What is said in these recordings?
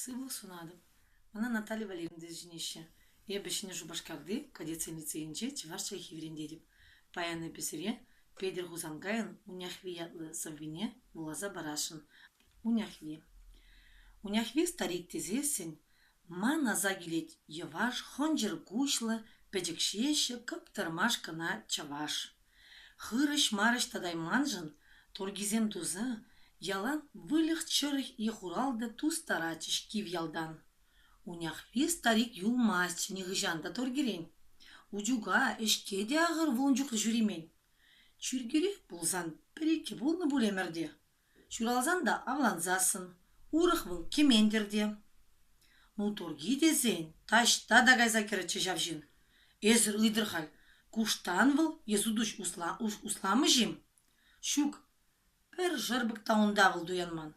Сывлӑх сунатӑп. Мана Наталья Валерьевна сӗнеҫҫӗ. Эпӗ Ҫӗнӗ Шупашкарти кадетсен лицейӗнче чӑваш чӗлхи вӗрентетӗп. Паян эпӗ сире Петӗр Хусанкайӑн Уняхви ятлӑ сӑввине вуласа парасшӑн. Уняхви. Уняхви старик тесессӗн ман аса килет йӑваш, хӑнчӑр куҫлӑ, пӗчӗк ҫеҫӗ, кӑптӑрмаш кӑна чӑваш. Хырӑҫ-марӑҫ татайманшӑн торгисем туса ялан выльӑх-чӗрлӗх е хуралтӑ тустаратчӗҫ кив ялтан. Уняхви старик юлмасть нихӑҫан та торгирен. Утюга, ӗҫке те ахӑр вун чухлӗ ҫӳремен. Чиркӳрех пулсан пӗр-иккӗ пулнӑ пур ӗмӗрте. Ҫуралсан та авлансассӑн, урӑх вӑл кӗмен-тӗр те. Ну, турки тесен, таҫта та кайса кӗрӗччӗ ҫав ҫын. Эсӗр ыйтӑр халь, куштан вӑл е сутуҫ усламӗҫ-им? Ҫук, пӗр шӑрпӑк та унта вӑл туянман.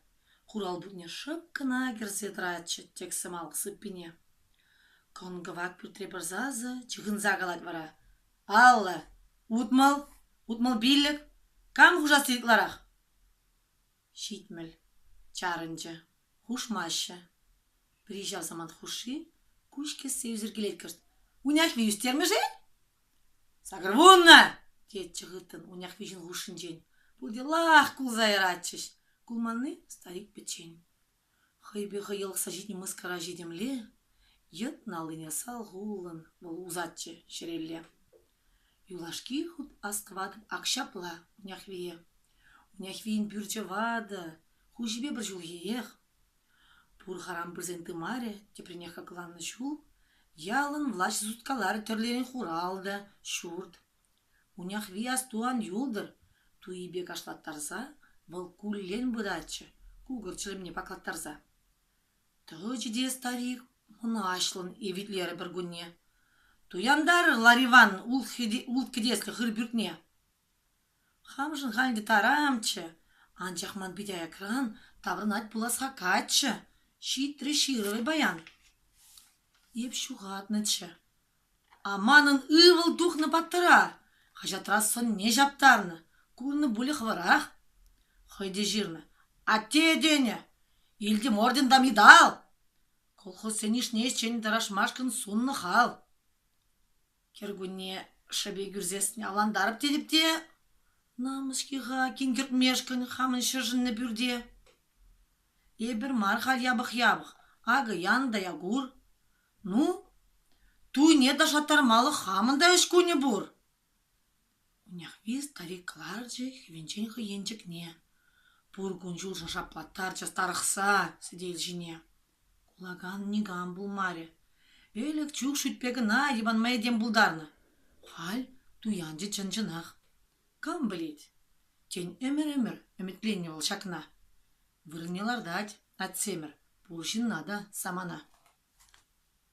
Хурал путне шӑп кӑна кӗрсе тӑратчӗ тек сӑмах сыппине. Кӑн-кӑвак пӳртре пыр сасӑ чыхӑнса калать вара. Паллӑ. Утмӑл, утмӑл-пиллӗк. Кам хушасси ытларах? Ҫитмӗл. Чарӑнчӗ. Хушмаҫҫӗ. Пӗри ҫав самант хушши куҫ кӗссе ӳсӗркелет кӑшт. Уняхви ӳстермӗш-и? Сакӑрвунна! тетчӗ хыттӑн Уняхви ҫын хушшинчен. Пурте лах кулса яратчӗҫ. Кулманни старик пӗччен. Хӑйпе хӑйӑлӑхса ҫитнӗ мыскара ҫитӗмле йӑтнӑ аллине салхуллӑн вӑл усатчӗ ҫӗрелле. Юлашки хут астӑватӑп ак ҫапла, Уняхвие. Уняхвийӗн пӳрчӗ ватӑ, хуҫипе пӗр ҫулхиех. Пур харам пырсен тымарӗ, тепринех хакланнӑ ҫул, ялӑн влаҫӗ суткаларӗ тӗрлерен хурал та, ҫурт. Куняхви астуан юлтӑр туйипе кашлаттарса вӑл куллен пыратчӗ, кукӑр чӗлӗмне паклаттарса. Тӑчӗ те старик мӑнаҫлӑн евитлерӗ пӗркунне. Туянтарӑр, Лариван, улт кӗтеслӗ хыр пӳртне. Хамшӑн халь ӗнтӗ тарамччӗ, анчах ман пит аякран таврӑнать пулас-ха каччӑ, ҫитрӗ ҫырӑвӗ баян. Эп ҫухатнӑччӗ. А манӑн ывӑл тухнӑ паттӑра хаҫатра сӑнне ҫаптарнӑ, курнӑ пулӗ хӑвӑрах. Хӑй те ҫырнӑ: «Атте, — тенӗ, — илтӗм ордента медаль!» Колхозсен йышне ӗҫчен тӑрашмашкӑн суннӑ хал. Кӗркунне шӗпе кӳрсессӗн авлантарӑп тетӗп те, намӑс-ҫке-ха кинкӗртмешкӗн хамӑн ҫӗршӗннӗ пӳрте. Эпир мар халь япӑх-япӑх, акӑ янӑ та Якур. Ну, туйне ташаттармалӑх хамӑн та ӗҫ кунӗ пур. Унехви старик ларчӗ хӗвенчен хӑй енчӗкне. Пур кун-ҫулҫӑ шаплаттарчӗ старӑхса сӗтел ҫине. Кулакан никам пулмарӗ. Ӗлӗк чух шӳтпе кӑна йӑпанма этем пултарнӑ. Халь туянчӗ чӑн-чӑнах. Кам пӗлет? Тен, ӗмӗр-ӗмӗр ӗмӗтленнӗ вӑл ҫакна. Вырӑнне лартать Атьсемӗр. Пур ҫынна та, самана.